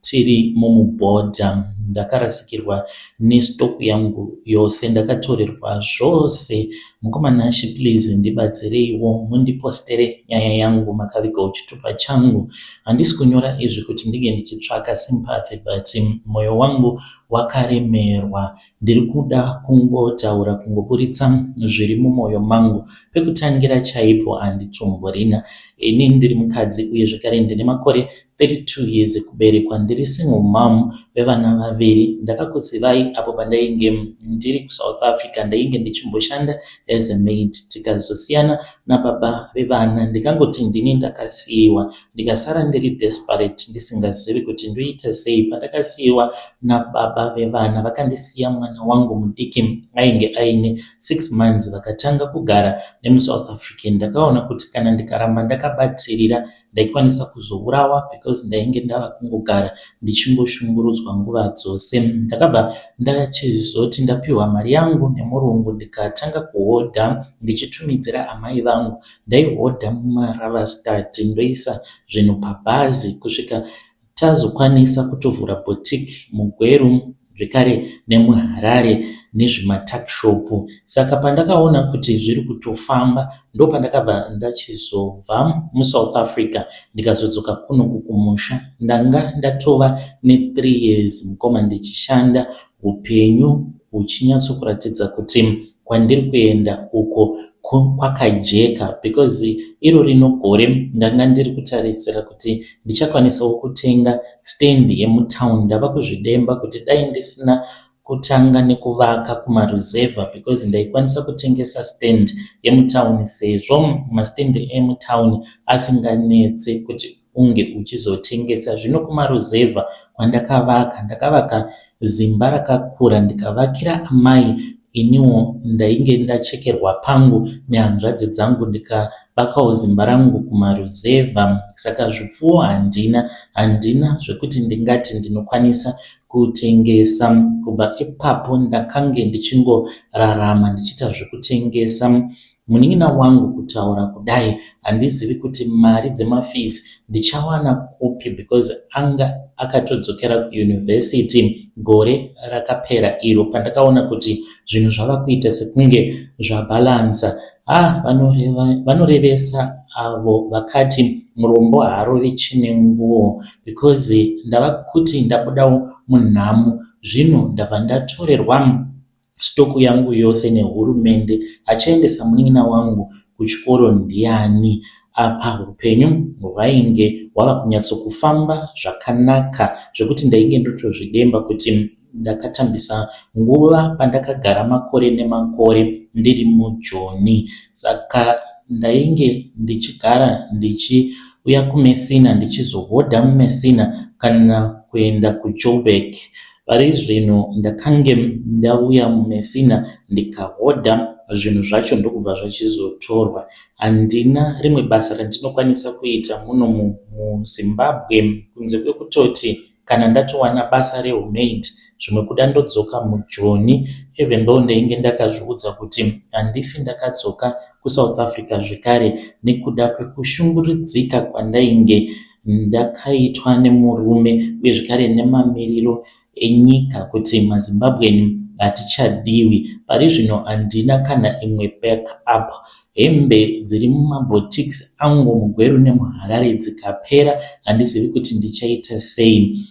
Tiri mumubhodha ndakarasikirwa nestock yangu yose ndakatorerwa zvose. Mukoma Nashy please ndibatsireiwo mundipostere nyaya yangu makavigawo chitupa changu. Handisi kunyora izvi kuti ndinge ndichitsvaka sympathy but moyo wangu wakaremerwa. Ndiri kuda kungotaura kungoburitsa zviri mumoyo mangu. Pekutangira chaipo handitsumburina. Ini ndiri mukadzi uye zvekare ndine makore 32 years kuberekwa ndiri single mom vevana vaviri ndakakuzivai apo pandainge ndiri kuSouth Africa ndainge ndichimboshanda as a maid tikazosiyana nababa vevana ndikangoti ndini ndakasiiwa ndikasara ndiri desperate ndisingazivi kuti ndoita sei pandakasiiwa nababa vevana vakandisiya mwana wangu mudiki ainge aine 6 months vakatanga kugara nemuSouth African ndakaona kuti kana ndikaramba ndakabatsirira ndaikwanisa kuzourawa because ndainge ndava kungogara ndichingoshungurudzwa nguva dzose. Ndakabva ndachizoti ndapiwa mari yangu nemurungu ndikatanga kuhodha ndichitumidzira amai vangu. Ndaihodha mumaravastad ndoisa zvinhu pabhazi kusvika Tazokwanisa kutovhura boutique muGweru zvekare nemuHarare nezvimatuckshop saka pandakaona kuti zviri kutofamba ndopandakabva ndachizobva muSouth Africa ndikazodzoka kuno kukumusha. Ndanga ndatova nethree years mukoma ndichishanda upenyu huchinyatsokuratidza kuti kwandiri kuenda uko ko kwakajeka because iro rino gore ndanga ndiri kutarisira kuti ndichakwanisawo kutenga stand yemutown ndava kuzvidemba kuti dai ndisina kutanga nekuvaka kumaruzevha because ndaikwanisa kutengesa stand yemutown sezvo mastand emutown asinganetse kuti unge uchizotengesa zvino kumaruzevha kwandakavaka ndakavaka Zimba rakakura ndikavakira amai iniwo ndainge ndachekerwa pangu nehanzvadzi dzangu ndikavakawo zimba rangu kumaruzevha saka zvipfuwo handina handina zvekuti ndingati ndinokwanisa kutengesa kubva ipapo ndakange ndichingorarama ndichiita zvekutengesa Munin'ina wangu kutaura kudai handizivi kuti mari dzemafees ndichawana kupi because anga akatodzokera kuUniversity gore rakapera iro pandakaona kuti zvinhu zvava kuita sekunge zvabalancer ah vanoreva, vanorevesa avo vakati murombo haarovi chine nguo because ndava kuti ndabudawo munhamo zvino ndabva ndatorerwa stock yangu yose nehurumende achiendesa munin'ina wangu kuchikoro ndiani apa hupenyu hwainge hwava kunyatsokufamba zvakanaka zvekuti ndainge ndotozvidemba kuti ndakatambisa nguva pandakagara makore nemakore ndiri mujoni saka ndainge ndichigara ndichiuya kumesina ndichizohodha mumesina kana kuenda kujoburg Parizvino ndakange ndauya muMessina ndikahodha zvinhu zvacho ndokubva zvachizotorwa. Handina rimwe basa randinokwanisa kuita muno muZimbabwe kunze kwekutoti kana ndatowana basa rehumaid zvimwe kuda ndodzoka muJoni even though ndainge ndakazviudza kuti handifi ndakadzoka kuSouth Africa zvekare nekuda kwekushungurudzika kwandainge ndakaitwa nemurume uye zvekare nemamiriro enyika kuti maZimbabwean hatichadiwi. Pari zvino handina kana imwe back up. Hembe dziri mumaboutiques angu muGweru nemuHarare dzikapera handizivi kuti ndichaita sei.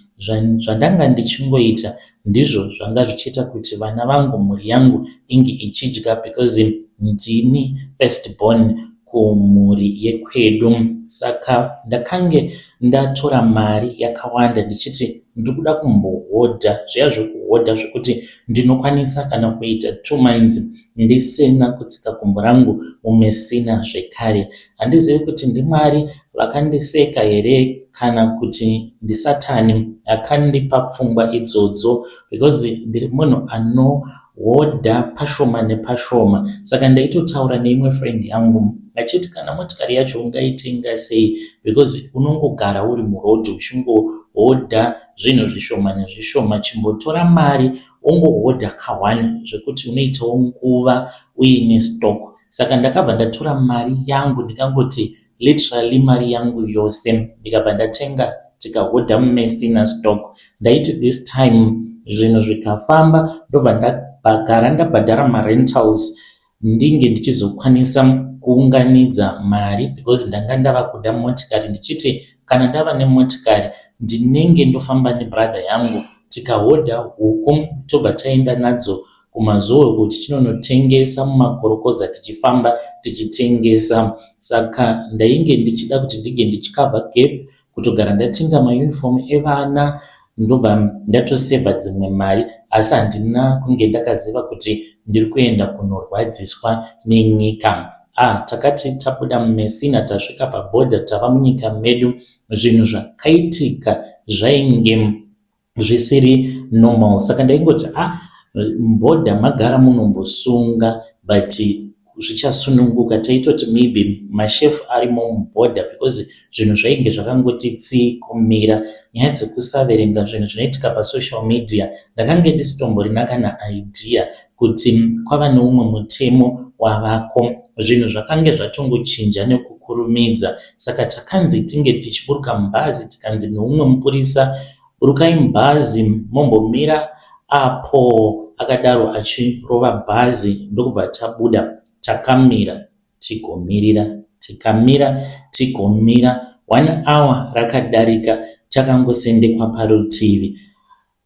Zvandanga ndichingoita ndizvo zvanga zvichiita kuti vana vangu mhuri yangu inge ichidya because ndini first born. kumhuri yekwedu saka ndakange ndatora mari yakawanda ndichiti ndiri kuda kumbohodha zviya zvekuhodha zvekuti ndinokwanisa kana kuita two months ndisina kutsika gumbo rangu mumesina zvekare handizivi kuti ndimwari vakandiseka here kana kuti ndisatani akandipa pfungwa idzodzo because ndiri munhu ano Woda pashoma nepashoma saka ndaitotaura neimwe friend yangu achiti kana motikari yacho ungaitenga sei because unongogara uri muroad uchingohodha zvinhu zvishoma nezvishoma chimbotora mari wongohodha kahwani zvekuti unoitawo nguva uine stock saka ndakabva ndatora mari yangu ndikangoti literally mari yangu yose ndikabva ndatenga tikahodha mumesina stock ndaiti this time zvinhu zvikafamba ndobva ndagara ndabhadhara marentals ndinge ndichizokwanisa kuunganidza mari because ndanga ndava kuda motikari ndichiti kana ndava nemotikari ndinenge ndofamba nebrother yangu tikahodha huku tobva taenda nadzo kumazowe uko tichinonotengesa mumakorokoza tichifamba tichitengesa saka ndainge ndichida kuti ndige ndichikavha gap kutogara ndatenga mauniform evana ndobva ndatosevha dzimwe mari asi handina kunge ndakaziva kuti ndiri kuenda kunorwadziswa nenyika ah takati tabuda mumesina tasvika pabhodha tava munyika medu zvinhu zvakaitika zvainge zvisiri normal saka ndaingoti a ah, mboda magara munombosunga but zvichasununguka taitoti maybe mashefu arimo muborder because zvinhu zvainge zvakangoti tsii kumira nyaya dzekusaverenga zvinhu zvinoitika pasocial media ndakange ndisitomborina kana idea kuti kwava neumwe mutemo wavako. Zvinhu zvakange zvatongochinja nekukurumidza saka takanzi tinge tichiburuka mubhazi tikanzi neumwe mupurisa, Burukai mubhazi mombomira apo, akadaro achirova bhazi ndokubva tabuda. Takamira tigomirira, tikamira tigomira, one hour rakadarika takangosendekwa parutivi.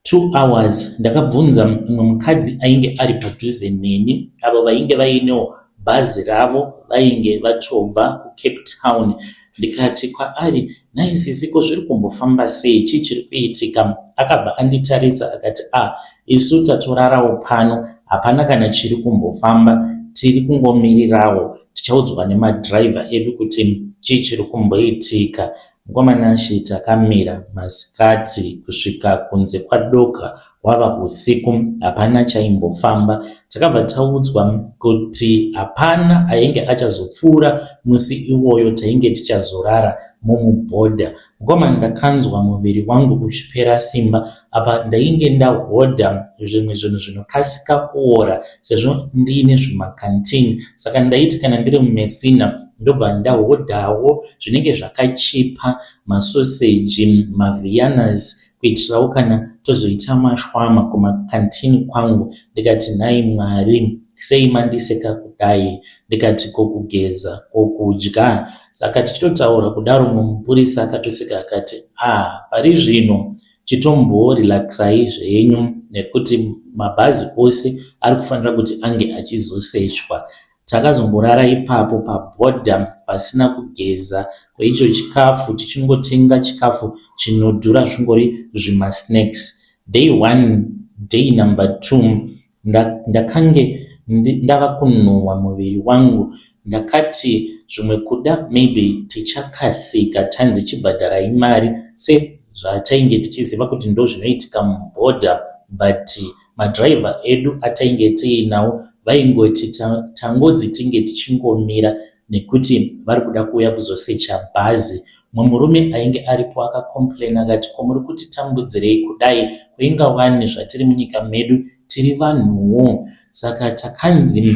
Two hours ndakabvunza mumwe mukadzi ainge ari padhuze neni avo vainge vainewo bhazi ravo vainge vatobva kucape town ndikati kwaari nhai sisi ko zviri kumbofamba sei chii chiri kuitika akabva anditarisa akati a ah, isu tatorarawo pano hapana kana chiri kumbofamba tiri kungomirirawo tichaudzwa nemadhiraivha edu kuti chii chiri kumboitika Mukoma Nashy takamira masikati kusvika kunze kwadoka hwava husiku hapana chaimbofamba. Takabva taudzwa kuti hapana ainge achazopfuura musi iwoyo tainge tichazorara mumubhodha. Mukoma ndakanzwa muviri wangu uchipera simba apa ndainge ndahodha zvimwe zvinhu zvinokasika kuora sezvo ndiine zvimacanteen saka ndaiti kana ndiri mumesina ndobva ndahodhawo zvinenge zvakachipa masoseji mavianas kuitirawo kana tozoita mashwama kumakantini kwangu ndikati nhai mwari sei mandiseka kudai ndikati kokugeza kokudya saka tichitotaura kudaro mumupurisa akatoseka akati ah pari zvino chitombo relaxai zvenyu nekuti mabhazi ose ari kufanira kuti ange achizosechwa takazongorara ipapo paborder pasina kugeza kweicho chikafu tichingotenga chikafu chinodhura zvingori zvimasnacks day one day number two Nda, ndakange ndi, ndava kunhuhwa muviri wangu ndakati zvimwe kuda maybe tichakasika tanzi chibhadharai mari se zvatainge tichiziva kuti ndozvinoitika muboarder but madriver edu atainge tiinawo vaingoti ta, tangodzi tinge tichingomira nekuti vari kuda kuuya kuzosecha bhazi Mumwe murume ainge aripo aka complain akati ko muri kuti tambudzirei kudai ko inga wani zvatiri munyika medu tiri vanhuwo saka takanzi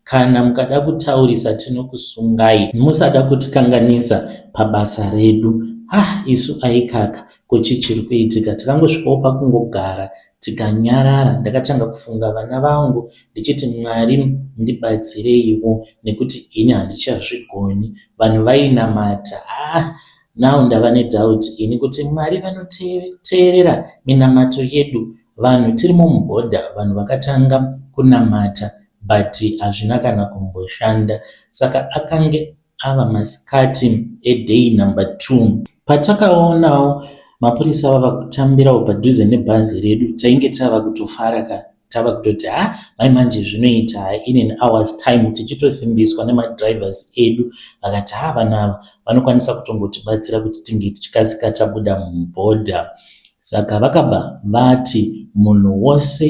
kana mukada kutaurisa tinokusungai musada kutikanganisa pabasa redu hah isu aikaka ko chii chiri kuitika takangosvikawo pakungogara Tikanyarara ndakatanga kufunga vana vangu ndichiti Mwari ndibatsireiwo nekuti ini handichazvigoni. Vanhu vainamata haa now ndava nedoubt ini kuti Mwari vanoteerera minamato yedu. Vanhu tirimo mubhodha vanhu vakatanga kunamata but hazvina kana kumboshanda saka akange Ava masikati eday number two patakaonawo mapurisa vava kutambirawo padhuze nebhazi redu tainge tava kutofara ka tava kutoti ha mai manje zvinoita ha in an hours time tichitosimbiswa nemadrivers edu vakati ha vana ava vanokwanisa kutongotibatsira kuti tinge tichikasika tabuda mubhodha. Saka vakabva vati munhu wose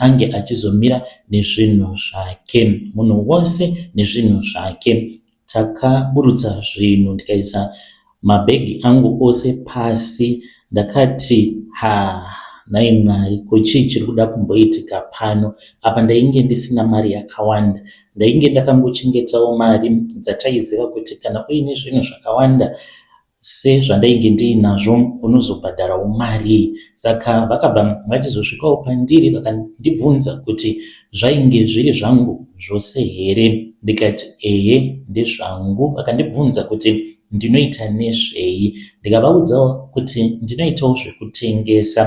ange achizomira nezvinhu zvake. Munhu wose nezvinhu zvake. Takaburutsa zvinhu ndikaisa mabhegi angu ose pasi ndakati haa nhai Mwari ko chii chiri kuda kumboitika pano apa ndainge ndisina mari yakawanda ndainge ndakangochengetawo mari dzataiziva kuti kana uine zvinhu zvakawanda sezvandainge ndiinazvo unozobhadharawo marii saka vakabva vachizosvikawo pandiri vakandibvunza kuti zvainge zviri zvangu zvose here ndikati ehe ndezvangu vakandibvunza kuti ndinoita nezvei ndikavaudzawo kuti ndinoitawo zvekutengesa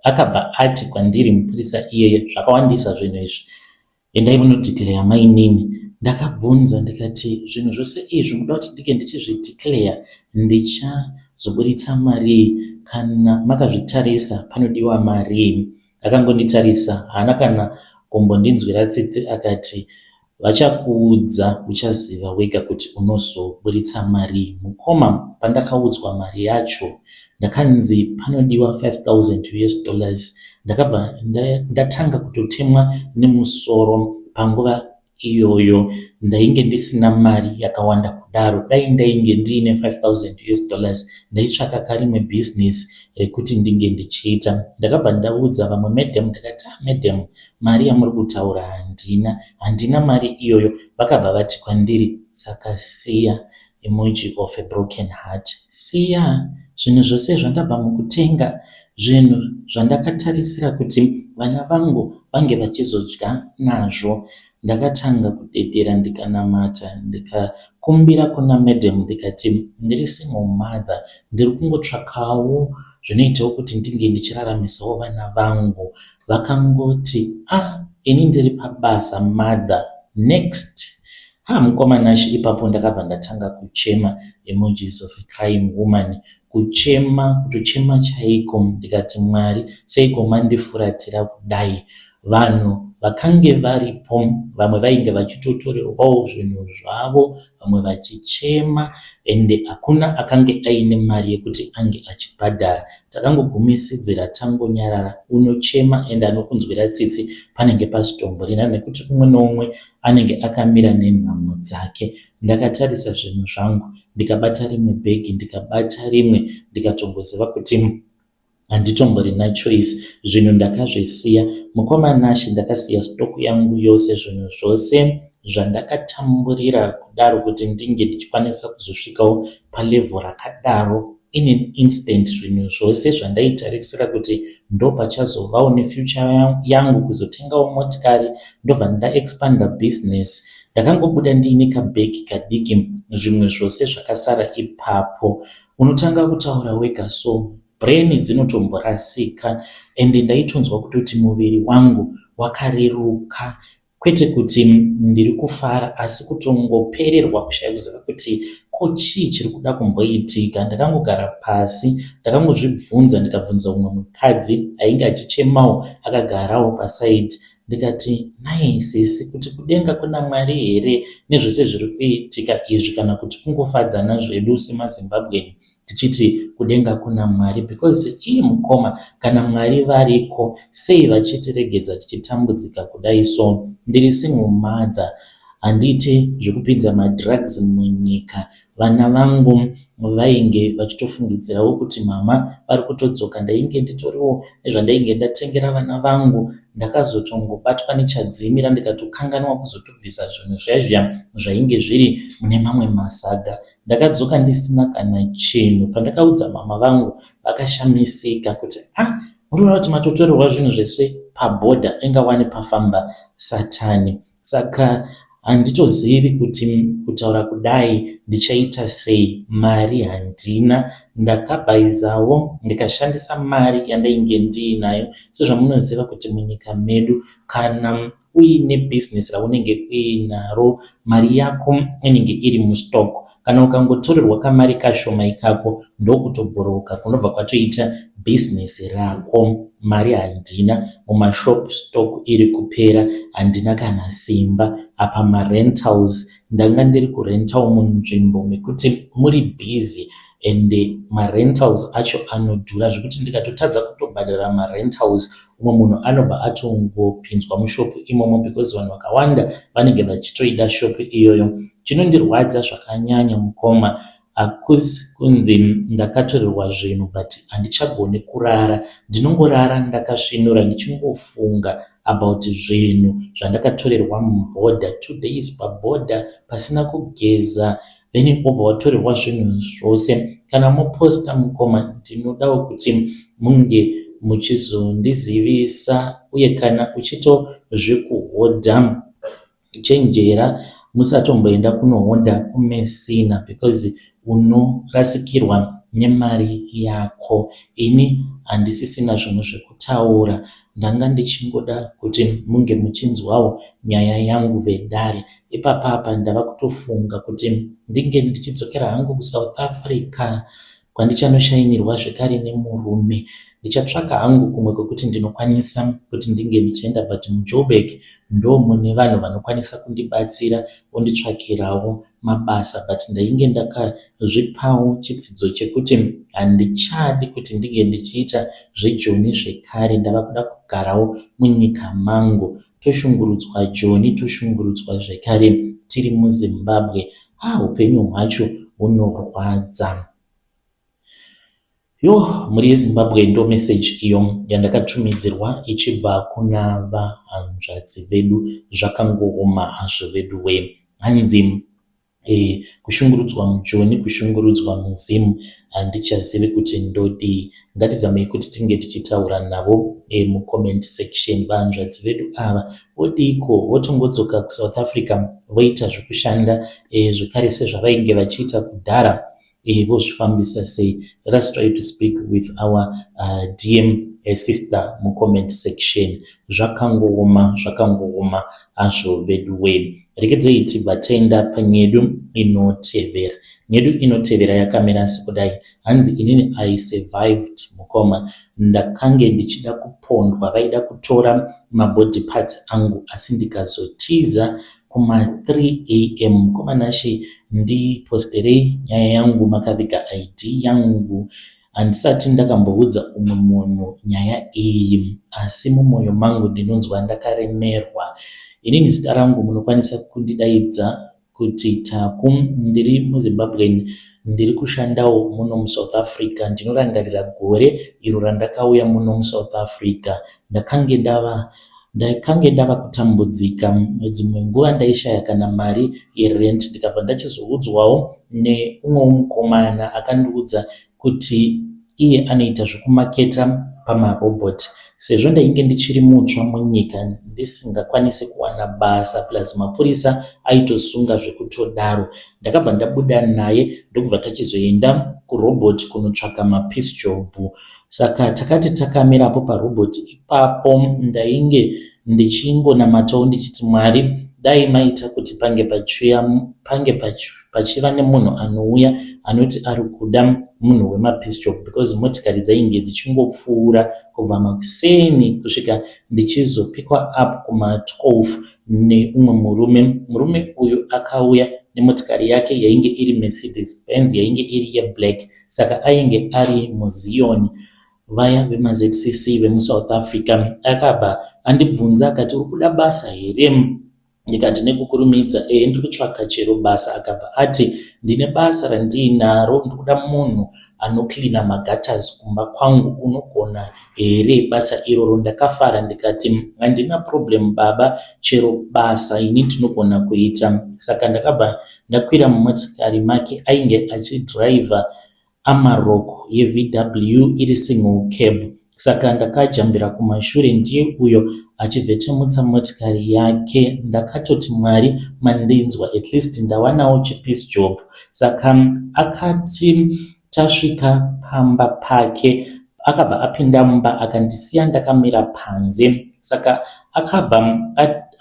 akabva ati kwandiri mupurisa iyeye zvakawandisa zvinhu izvi Endai muno declare mainini. Ndakabvunza ndikati zvinhu zvose izvi munoda kuti ndinge ndichizvi declare ndichazoburitsa marii kana makazvitarisa panodiwa marii. Akangonditarisa haana kana kumbondinzwira tsitsi akati vachakuudza uchaziva wega kuti unozoburitsa marii. Mukoma pandakaudzwa mari yacho ndakanzi panodiwa 5000 us dollars ndakabva ndatanga kutotemwa nemusoro panguva iyoyo ndainge ndisina mari yakawanda kudaro dai ndainge ndiine 5000 us dollars ndaitsvaka karimwe business rekuti ndinge ndichiita ndakabva ndaudza vamwe madam ndakati ah, madam mari yamuri kutaura handina handina mari iyoyo vakabva vati kwandiri saka siya Emoji of a broken heart Siya zvinhu zvose zvandabva mukutenga zvinhu zvandakatarisira kuti vana vangu vange vachizodya nazvo Ndakatanga kudedera ndikanamata ndikakumbira kuna madam ndikati ndiri single mother ndiri kungotsvakawo zvinoitawo kuti ndinge ndichiraramisawo vana vangu Vakangoti ah ini ndiri pabasa mother Next Haa mukoma Nash ipapo ndakabva ndatanga kuchema emojis of a crying woman kuchema kutochema chaiko ndikati Mwari seiko mandifuratira kudai vanhu vakange varipo vamwe vainge vachitotorerwawo zvinhu zvavo vamwe vachichema ende hakuna akange aine mari yekuti ange achibhadhara takangogumisidzira tangonyarara unochema ende anokunzwira tsitsi panenge pasitomborina nekuti umwe noumwe anenge akamira nenhamo dzake. Ndakatarisa zvinhu zvangu ndikabata rimwe bag ndikabata rimwe ndikatongoziva kuti handitomborina choice zvinhu ndakazvisiya. Mukoma Nashy ndakasiya stock yangu yose zvinhu zvose zvandakatamburira kudaro kuti ndinge ndichikwanisa kuzosvikawo palevel rakadaro. In an instant zvinhu zvose zvandaitarisira kuti ndopachazovawo nefuture yangu kuzotengawo motikari ndobva ndaexpander business. Ndakangobuda ndiine kabag kadiki zvimwe zvose zvakasara ipapo. Unotanga kutaura wega so brain dzinotomborasika and ndaitonzwa kutoti muviri wangu wakareruka Kwete kuti ndiri kufara asi kutongopererwa kushaya kuziva kuti ko chii chiri kuda kumboitika. Ndakangogara pasi ndakangozvibvunza ndikabvunza umwe mukadzi ainge achichemawo akagarawo paside ndikati nhai sisi kuti kudenga kuna Mwari here nezvese zviri kuitika izvi kana kuti kungofadzana zvedu semaZimbabwean tichiti kudenga kuna Mwari because ii mukoma kana Mwari variko sei vachitiregedza tichitambudzika kudai so ndiri single mother handiite zvekupinza madrugs munyika vana vangu vainge vachitofungidzirawo kuti mama vari kutodzoka ndainge nditoriwo nezvandainge ndatengera vana vangu ndakazotongobatwa nechadzimira ndikatokanganwa kuzotobvisa zvinhu zvaizviya zvainge zviri mune mamwe masaga Ndakadzoka ndisina kana chinhu pandakaudza mama vangu vakashamisika kuti ah murikuda kuti matotorerwa zvinhu zvese paborder inga wani pafamba satani saka handitozivi kuti kutaura kudai ndichaita sei mari handina ndakabhaizawo ndikashandisa mari yandainge ndiinayo sezvamunoziva kuti munyika medu kana uine business raunenge uinaro mari yako inenge iri mustock kana ukangotorerwa kamari kashoma ikako ndokutobhoroka kunobva kwatoita business rako mari handina mumashop stock iri kupera handina kana simba apa marentals ndanga ndiri kurentawo munzvimbo mekuti muri busy and marentals acho anodhura zvekuti ndikatotadza kutobhadhara marentals umwe munhu anobva atongopinzwa mushopu imomo because vanhu vakawanda vanenge vachitoida shopu iyoyo chinondirwadza zvakanyanya mukoma hakusi kunzi ndakatorerwa zvinhu but handichagoni kurara ndinongorara ndakasvinura ndichingofunga about zvinhu zvandakatorerwa mubhodha two days pabhodha pasina kugeza then wobva watorerwa zvinhu zvose kana moposta mukoma ndinodawo kuti munge muchizondizivisa uye kana uchito zvekuhodha chenjera musatomboenda kunohodha kumesina because unorasikirwa nemari yako ini handisisina zvinhu zvekutaura Ndanga ndichingoda kuti munge muchinzwawo nyaya yangu vedare. Ipapapa ndava kutofunga kuti ndinge ndichidzokera hangu kuSouth Africa kwandichanoshainirwa zvekare nemurume. Ndichatsvaka hangu kumwe kwekuti ndinokwanisa kuti ndinge ndichienda but muJoburg ndomune vanhu vanokwanisa kundibatsira vonditsvakirawo mabasa but ndainge ndakazvipawo chitsidzo chekuti handichadi kuti ndinge ndichiita zvejoni zvekare ndava kuda kugarawo munyika mangu toshungurudzwa joni toshungurudzwa zvekare tiri muzimbabwe haa upenyu hwacho hunorwadza Yoh mhuri yeZimbabwe ndo message iyo yandakatumidzirwa ichibva kuna vahanzvadzi vedu zvakangooma hazvo veduwee hanzi eh, kushungurudzwa mujoni kushungurudzwa muZim handichazivi kuti ndodii ngatizamei kuti tinge tichitaura navo eh, mucomment section vahanzvadzi vedu ava vodiiko votongodzoka kuSouth Africa voita zvekushanda eh, zvekare sezvavainge vachiita kudhara eh, vozvifambisa sei let us try to speak with our uh, dm uh, sister mucomment section zvakangooma zvakangooma hazvo vedu wee rekedzei tibva tenda panyedu inotevera nyedu inotevera yakamira asi kudai hanzi inini i survived mukoma ndakange ndichida kupondwa vaida kutora mabody parts angu asi ndikazotiza Kuma 3 am mkoma Nashe ndi posterei nyaya yangu makaviga ID yangu handisati ndakamboudza umwe munhu nyaya iyi asi mumoyo mangu ndinonzwa ndakaremerwa inini zita rangu munokwanisa kundidaidza kuti Taku ndiri muZimbabwean ndiri kushandawo muno muSouth Africa ndinorangarira gore iro randakauya muno muSouth Africa ndakange ndava Ndaikange ndava kutambudzika, dzimwe nguva ndaishaya kana mari yerent ndikabva ndachizoudzwawo neumwewo mukomana akandiudza kuti iye anoita zvekumaketa pamarobot. Sezvo ndainge ndichiri mutsva munyika ndisingakwanise kuwana basa plus mapurisa aitosunga zvekutodaro, ndakabva ndabuda naye ndokubva tachizoenda kurobot kunotsvaka mapiece job. Saka takati takamirapo parobot ipapo ndainge ndichingonamatawo ndichiti Mwari dai maita kuti pange pachuya pange pachiva nemunhu anouya anoti ari kuda munhu wemapisjop because motikari dzainge dzichingopfuura kubva makuseni kusvika ndichizopikwa up kuma 12 neumwe murume murume uyu akauya nemotikari yake yainge iri mercedes benz yainge iri yeblack saka ainge ari muzion vaya vemaZCC vemuSouth Africa. Akabva andibvunza akati, uri kuda basa here? Ndikati nekukurumidza, ehe ndiri kutsvaka chero basa. Akabva ati, ndine basa randiinaro, ndiri kuda munhu anocleana magutters kumba kwangu, unogona here basa iroro? Ndakafara ndikati, handina problem baba, chero basa ini ndinogona kuita. Saka ndakabva Ndakwira mumotikari make ainge achidriver Amarok yeVW iri single cab saka ndakajambira kumashure ndiye uyo achivhetemutsa motikari yake. Ndakatoti Mwari mandinzwa at least ndawanawo chipeace job saka akati tasvika pamba pake Akabva apinda mumba akandisiya ndakamira panze saka akabva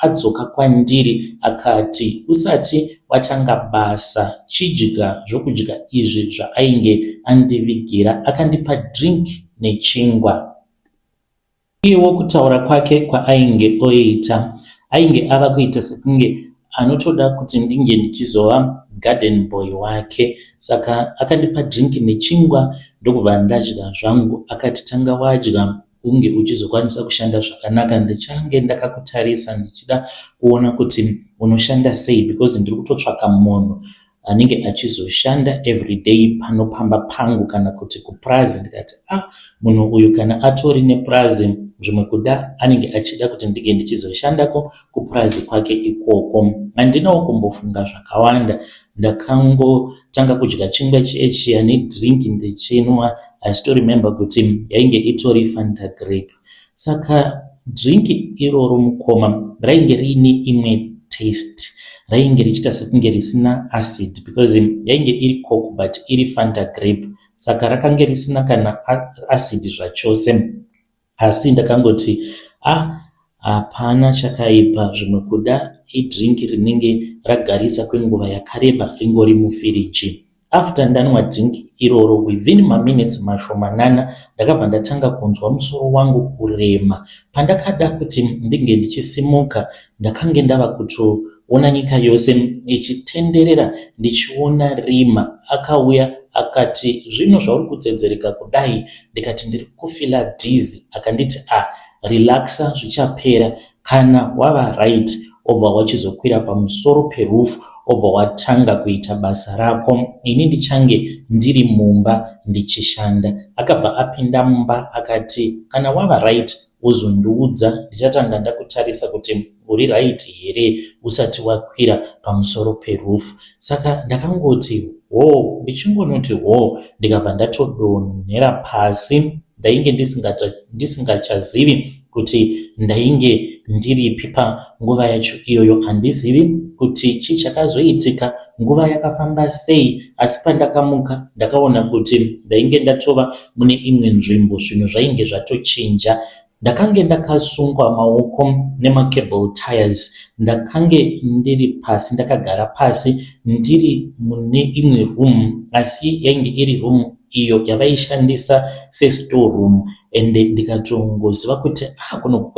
adzoka kwandiri akati usati watanga basa chidya zvokudya izvi zvaainge andivigira akandipa drink nechingwa. Iyewo kutaura kwake kwaainge oita ainge ava kuita sekunge anotoda kuti ndinge ndichizova garden boy wake saka akandipa drink nechingwa ndokubva ndadya zvangu akati tanga wadya unge uchizokwanisa kushanda zvakanaka ndichange ndakakutarisa ndichida kuona kuti unoshanda sei because ndiri kutotsvaka munhu anenge achizoshanda everyday pano pamba pangu kana kuti kupurazi ndikati a ah, munhu uyu kana atori nepurazi zvimwe kuda anenge achida kuti ndinge ndichizoshandako kupurazi kwake ikoko handinawo kumbofunga zvakawanda ndakangotanga kudya chingwa chiye chiya nedrink ndichinwa i still remember kuti yainge itori fanta grape Saka drink iroro mukoma rainge riine imwe taste rainge richiita sekunge risina acid because yainge iri coke but iri fanta grape saka rakange risina kana acid zvachose asi ndakangoti a ah, hapana chakaipa zvimwe kuda idrink rinenge ragarisa kwenguva yakareba ringori mufiriji After ndanwa drink iroro within maminutes mashomanana ndakabva ndatanga kunzwa musoro wangu kurema. Pandakada kuti ndinge ndichisimuka ndakange ndava kutoona nyika yose ichitenderera ndichiona Rima akauya akati zvino zvauri kutsedzereka kudai ndikati ndiri kufila dizzy akanditi ah relaxa zvichapera Kana wava right obva wachizokwira pamusoro pe roof obva watanga kuita basa rako ini ndichange ndiri mumba ndichishanda. Akabva apinda mumba akati Kana wava right wozondiudza ndichatanga ndakutarisa kuti uri right here usati wakwira pamusoro pe roof. Saka ndakangoti hoo ndichingonoti hoo ndikabva ndatodonhera pasi. ndainge ndisingachazivi kuti ndainge ndiripi panguva yacho iyoyo handizivi kuti chii chakazoitika nguva yakafamba sei asi pandakamuka ndakaona kuti ndainge ndatova mune imwe nzvimbo zvinhu zvainge zvatochinja ndakange ndakasungwa maoko nemacable tires ndakange ndiri pasi ndakagara pasi ndiri mune imwe room asi yainge iri room iyo yavaishandisa sestore room ende ndikatongoziva kuti ah kuno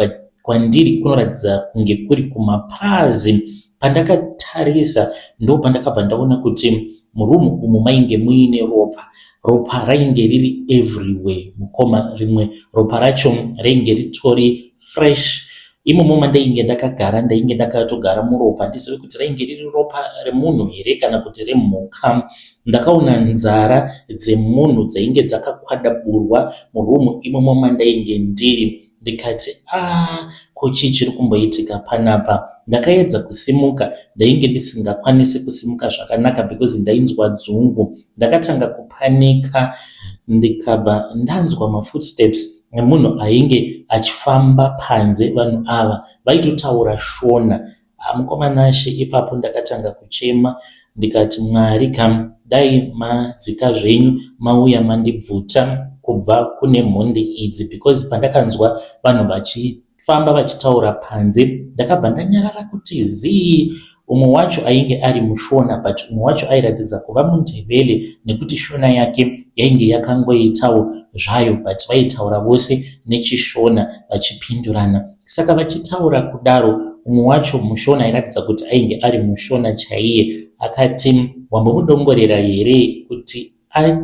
kwandiri kunoratidza kunge kuri kumapurazi pandakatarisa ndo pandakabva ndaona kuti murumu umu mainge muine ropa ropa rainge riri everywhere mukoma rimwe ropa racho rainge ritori fresh Imomo mandainge ndakagara ndainge ndakatogara muropa ndizive kuti rainge riri ropa remunhu here kana kuti remhuka. Ndakaona nzara dzemunhu dzainge dzakakwadaburwa murumu imomo mandainge ndiri ndikati a ah, ko chii chiri kumboitika panapa. Ndakaedza kusimuka ndainge ndisingakwanisi kusimuka zvakanaka because ndainzwa dzungu. Ndakatanga kupanika ndikabva ndanzwa mafootsteps nemunhu ainge achifamba panze vanhu ava vaitotaura shona ah, mukoma nashe ipapo ndakatanga kuchema ndikati mwari kam dai madzika zvenyu mauya mandibvuta kubva kune mhondi idzi because pandakanzwa vanhu vachitaura kufamba vachitaura panze ndakabva ndanyarara kuti zii umwe wacho ainge ari mushona but umwe wacho airatidza kuva mundevele nekuti shona yake yainge yakangoitawo zvayo but vaitaura vose nechishona vachipindurana saka vachitaura kudaro umwe wacho mushona airatidza kuti ainge ari mushona chaiye akati wambomudongorera here kuti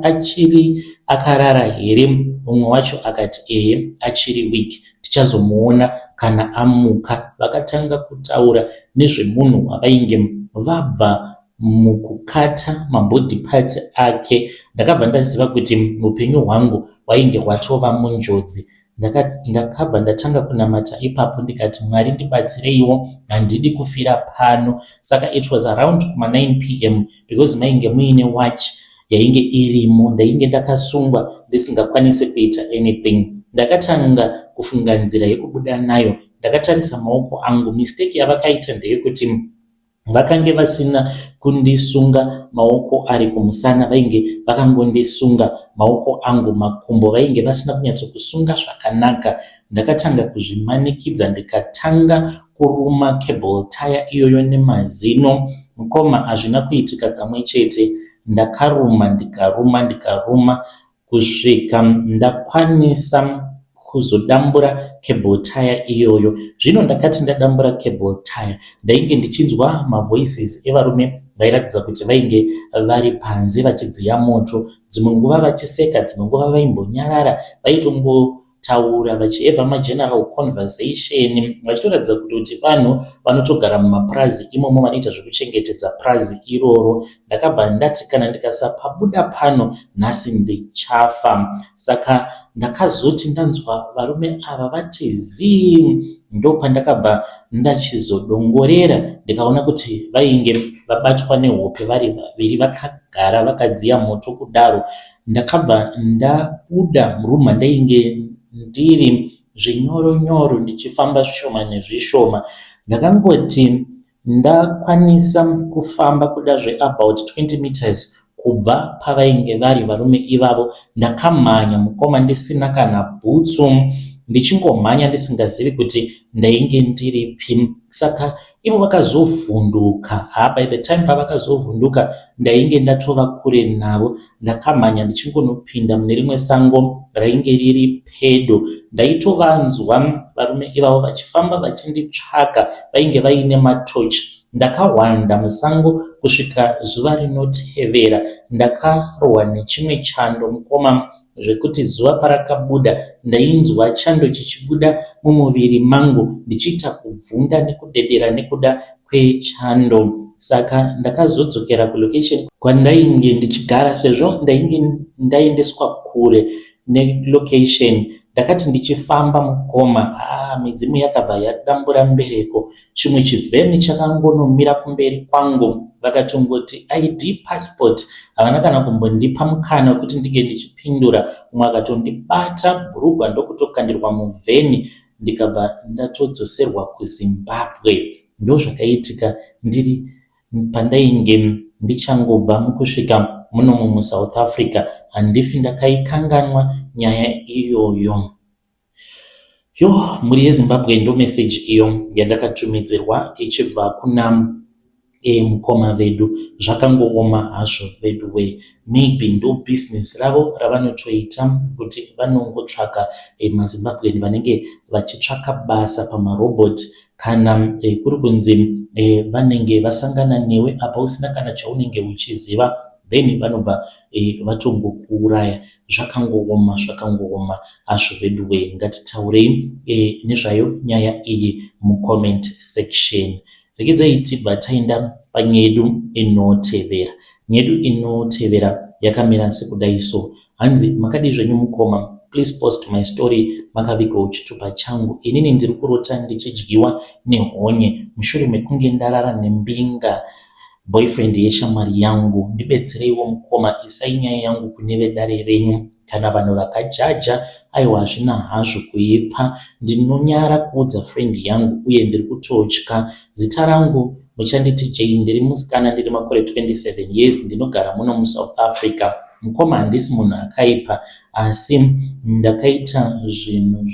achiri akarara here? Mumwe wacho akati, Ehe, achiri weak. Tichazomuona kana amuka. Vakatanga kutaura nezvemunhu wavainge vabva mukukata mabody parts ake. Ndakabva ndaziva kuti upenyu hwangu hwainge hwatova munjodzi. Ndaka, ndakabva ndatanga kunamata ipapo ndikati Mwari ndibatsireiwo handidi kufira pano. Saka it was around kuma 9 pm because mainge muine watch yainge irimo. Ndainge ndakasungwa ndisingakwanise kuita anything. Ndakatanga kufunga nzira yekubuda nayo. Ndakatarisa maoko angu. Mistake yavakaita ndeyekuti Vakange vasina kundisunga maoko ari kumusana vainge vakangondisunga maoko angu makumbo vainge vasina kunyatsokusunga zvakanaka. Ndakatanga kuzvimanikidza ndikatanga kuruma cable tyre iyoyo nemazino mukoma hazvina kuitika kamwe chete ndakaruma ndikaruma ndikaruma kusvika ndakwanisa kuzodambura cable tire iyoyo. Zvino ndakati ndadambura cable tire ndainge ndichinzwa mavoices evarume vairatidza kuti vainge vari panze vachidziya moto, dzimwe nguva vachiseka, dzimwe nguva vaimbonyarara vaitongo taura vachieva mageneral conversation vachitoratidza kuti kuti vanhu vanotogara mumapurazi imomo vanoita zvekuchengetedza purazi iroro ndakabva ndati kana ndikasapabuda pano nhasi ndichafa saka ndakazoti ndanzwa varume ava vati zii ndopandakabva ndachizodongorera ndikaona kuti vainge vabatwa nehope vari vaviri vakagara vakadziya moto kudaro Ndakabva ndabuda muroom mandainge ndiri zvinyoro nyoro ndichifamba zvishoma nezvishoma. Ndakangoti ndakwanisa kufamba kuda zveabout 20 meters kubva pavainge vari varume ivavo ndakamhanya mukoma ndisina kana bhutsu ndichingomhanya ndisingazivi kuti ndainge ndiripi saka Ivo vakazovhunduka. Haa by the time pavakazovhunduka ndainge ndatova kure navo. Ndakamhanya ndichingonopinda mune rimwe sango rainge riri pedo. Ndaitovanzwa varume ivavo vachifamba vachinditsvaga vainge vaine matochi. Ndakahwanda musango kusvika zuva rinotevera. Ndakarohwa nechimwe chando mukoma zvekuti zuva parakabuda ndainzwa chando chichibuda mumuviri mangu ndichiita kubvunda nekudedera nekuda kwechando saka ndakazodzokera kulocation kwandainge ndichigara sezvo ndainge ndaendeswa kure nelocation ndakati ndichifamba mukoma haa midzimu yakabva yadambura mbereko chimwe chivheni chakangonomira kumberi kwangu vakatongoti id passport havana kana kumbondipa mukana wekuti ndinge ndichipindura umwe akatondibata bhurugwa ndokutokandirwa muvheni ndikabva ndatodzoserwa kuzimbabwe ndozvakaitika ndiri pandainge ndichangobva mukusvika munomo musouth africa handifi ndakaikanganwa nyaya iyoyo Yoh mhuri yeZimbabwe ndo message iyo yandakatumidzirwa ichibva kuna eh, mukoma vedu zvakangooma hazvo veduwe maybe ndo business ravo ravanotoita kuti vanongotsvaka eh, mazimbabwean vanenge vachitsvaka basa pamarobot kana eh, kuri kunzi eh, vanenge vasangana newe apa usina kana chaunenge uchiziva then vanobva eh, vatongokuuraya zvakangooma zvakangooma hazvo veduwee ngatitaurei e, nezvayo nyaya iyi mucomment section regedzai tibva taenda panyedu inotevera nyedu inotevera yakamira sekudai so hanzi makadii zvenyu mukoma please post my story makavigwa uchitupa changu inini ndiri kurota ndichidyiwa nehonye mushure mekunge ndarara nembinga Boyfriend yeshamwari yangu ndibetsereiwo mukoma isai nyaya yangu kune vedare renyu kana vanhu vakajaja aiwa hazvina hazvo kuipa ndinonyara kuudza friend yangu uye ndiri kutotya zita rangu muchanditi Jay ndiri musikana ndine makore 27 years ndinogara muno muSouth Africa mukoma handisi munhu akaipa Asi ndakaita zvinhu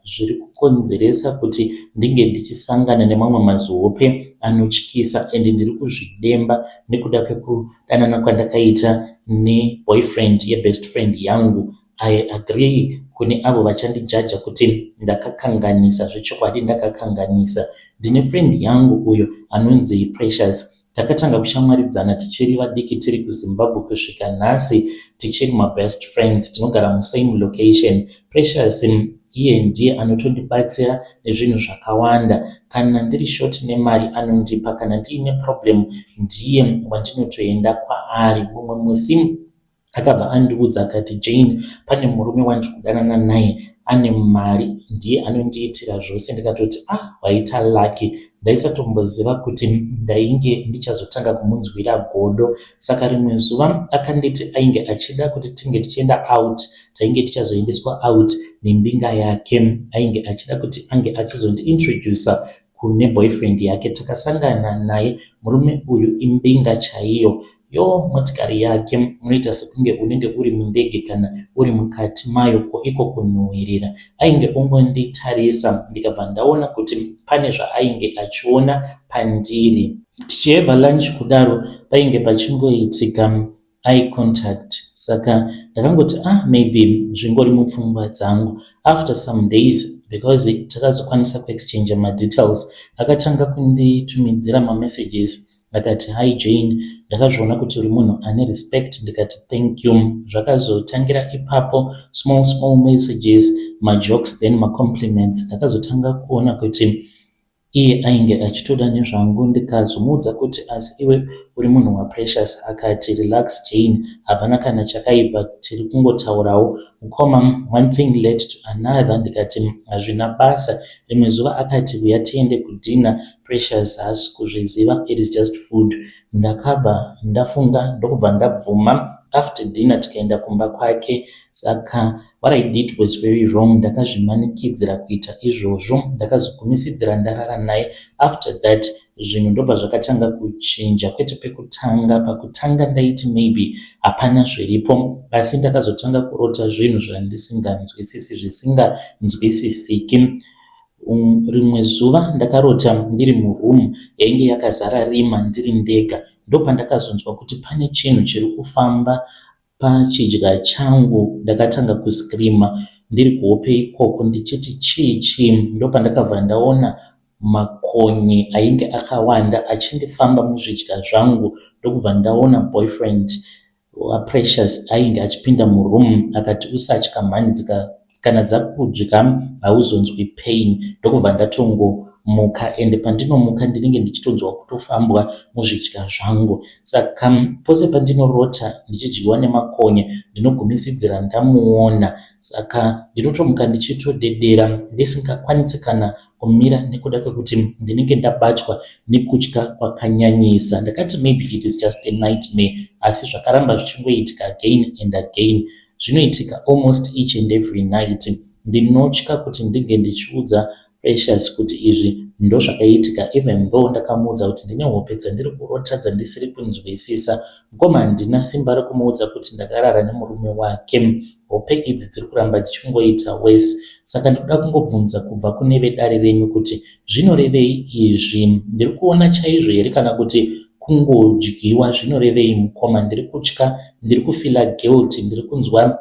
zviri kukonzeresa kuti ndinge ndichisangana nemamwe mazihope anotyisa and ndiri kuzvidemba nekuda kwekudanana kwandakaita neboyfriend yebest friend yangu. I agree kune avo vachandijaja kuti ndakakanganisa, zvechokwadi ndakakanganisa. Ndine friend yangu uyo anonzi Precious Takatanga kushamwaridzana tichiri vadiki tiri kuZimbabwe kusvika nhasi tichiri mabest friends tinogara musame location. Precious iye ndiye anotondibatsira nezvinhu zvakawanda. Kana ndiri short nemari anondipa, kana ndiine problem ndiye wandinotoenda kwaari. Mumwe musi Akabva andiudza akati, Jane, pane murume wandiri kudanana naye ane mari, ndiye anondiitira zvose. Ndikatoti, Ah, waita lucky. Ndaisatomboziva kuti ndainge ndichazotanga kumunzwira godo. Saka rimwe zuva akanditi ainge achida kuti tinge tichienda out, tainge tichazoendeswa out nembinga yake. Ainge achida kuti ange achizondiintroducer kune boyfriend yake. Takasangana naye, murume uyu imbinga chaiyo. Yoo motikari yake munoita sekunge unenge uri mundege kana uri mukati mayo ko iko kunhuwirira. Ainge ongonditarisa ndikabva ndaona kuti pane zvaainge achiona pandiri. Tichiheva lunch kudaro painge pachingoitika eye contact saka ndakangoti ah maybe zvingori mupfungwa dzangu. After some days because takazokwanisa kuexchanger madetails akatanga kunditumidzira mamessages Ndakati Hi Jane, ndakazviona kuti uri munhu ane respect ndikati Thank you. Zvakazotangira ipapo, small small messages, majokes then macompliments. Ndakazotanga kuona kuti iye ainge achitoda nezvangu ndikazomuudza kuti asi iwe uri munhu waPrecious. Akati Relax Jane, hapana kana chakaipa tiri kungotaurawo. Mukoma, one thing led to another ndikati Hazvina basa. Rimwe zuva akati Huya tiende kudinner Precious haasi kuzviziva it is just food ndakabva ndafunga ndokubva ndabvuma after dinner tikaenda kumba kwake saka what I did was very wrong ndakazvimanikidzira kuita izvozvo ndakazogumisidzira ndarara naye after that zvinhu ndobva zvakatanga kuchinja kwete pekutanga pakutanga ndaiti maybe hapana zviripo asi ndakazotanga kurota zvinhu zvandisinganzwisisi zvisinganzwisisiki Um, rimwe zuva ndakarota ndiri muroom yainge yakazara rima ndiri ndega ndopandakazonzwa kuti pane chinhu chiri kufamba pachidya changu ndakatanga kuscreama ndiri kuhope ikoko ndichiti chii chii ndopandakabva ndaona makonye ainge akawanda achindifamba muzvidya zvangu ndokubva ndaona boyfriend VaPrecious ainge achipinda muroom akati usatya mhani dzika kana dzakudya hauzonzwi pain ndokubva ndatongomuka ende pandinomuka ndinenge ndichitonzwa kutofambwa muzvidya zvangu saka pose pandinorota ndichidyiwa nemakonya ndinogumisidzira ndamuona saka ndinotomuka ndichitodedera ndisingakwanisi kana kumira nekuda kwekuti ndinenge ndabatwa nekutya kwakanyanyisa ndakati maybe it is just a nightmare asi zvakaramba zvichingoitika again and again zvinoitika almost each and every night ndinotya kuti ndinge ndichiudza precious kuti izvi ndozvakaitika even though ndakamuudza kuti ndine hope dzandiri kurota dzandisiri kunzwisisa Mkoma handina simba rekumuudza kuti ndakarara nemurume wake. Hope idzi dziri kuramba dzichingoita worse saka ndikuda kungobvunza kubva kune vedare renyu kuti zvinorevei izvi. Ndiri kuona chaizvo here kana kuti kungodyiwa zvinorevei mkoma ndiri kutya ndiri kufeeler guilty ndiri kunzwa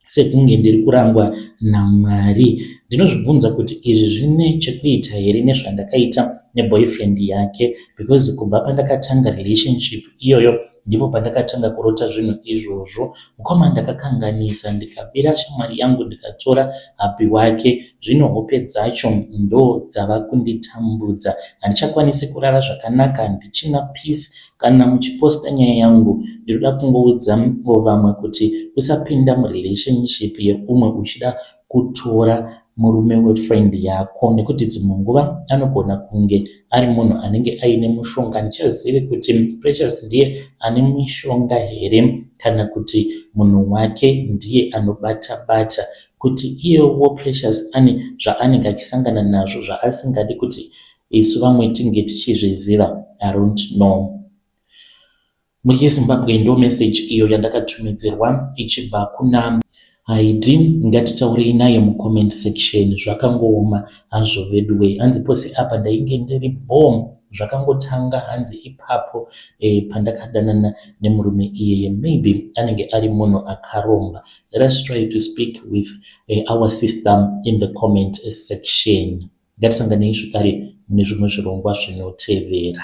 sekunge ndiri kurangwa naMwari. Ndinozvibvunza kuti izvi zvine chekuita here nezvandakaita neboyfriend yake because kubva pandakatanga relationship iyoyo ndipo pandakatanga kurota zvinhu izvozvo. Mukoma ndakakanganisa ndikabira shamwari yangu ndikatora happy wake zvino hope dzacho ndo dzava kunditambudza. Handichakwanisi kurara zvakanaka handichina peace Kana muchiposta nyaya yangu ndinoda kungoudza wo vamwe kuti usapinda mu relationship yeumwe uchida kutora murume we friend yako nekuti dzimwe nguva anogona kunge ari munhu anenge aine mushonga handichazivi kuti Precious ndiye ane mishonga here kana kuti munhu wake ndiye anobata bata kuti iyewo Precious ane zvaanenge achisangana nazvo zvaasingadi kuti Isu vamwe tinge tichizviziva I don't know. Muye Zimbabwe ndo message iyo yandakatumidzirwa ichibva kuna Haidi ngatitaurei naye mu comment section zvakangooma hazvo veduwee hanzi pose apa ndainge ndiri bhoo zvakangotanga hanzi ipapo e, pandakadanana nemurume iyeye maybe anenge ari munhu akaromba Let us try to speak with uh, our sister in the comment section. Ngatisanganei zvekare mune zvimwe zvirongwa zvinotevera.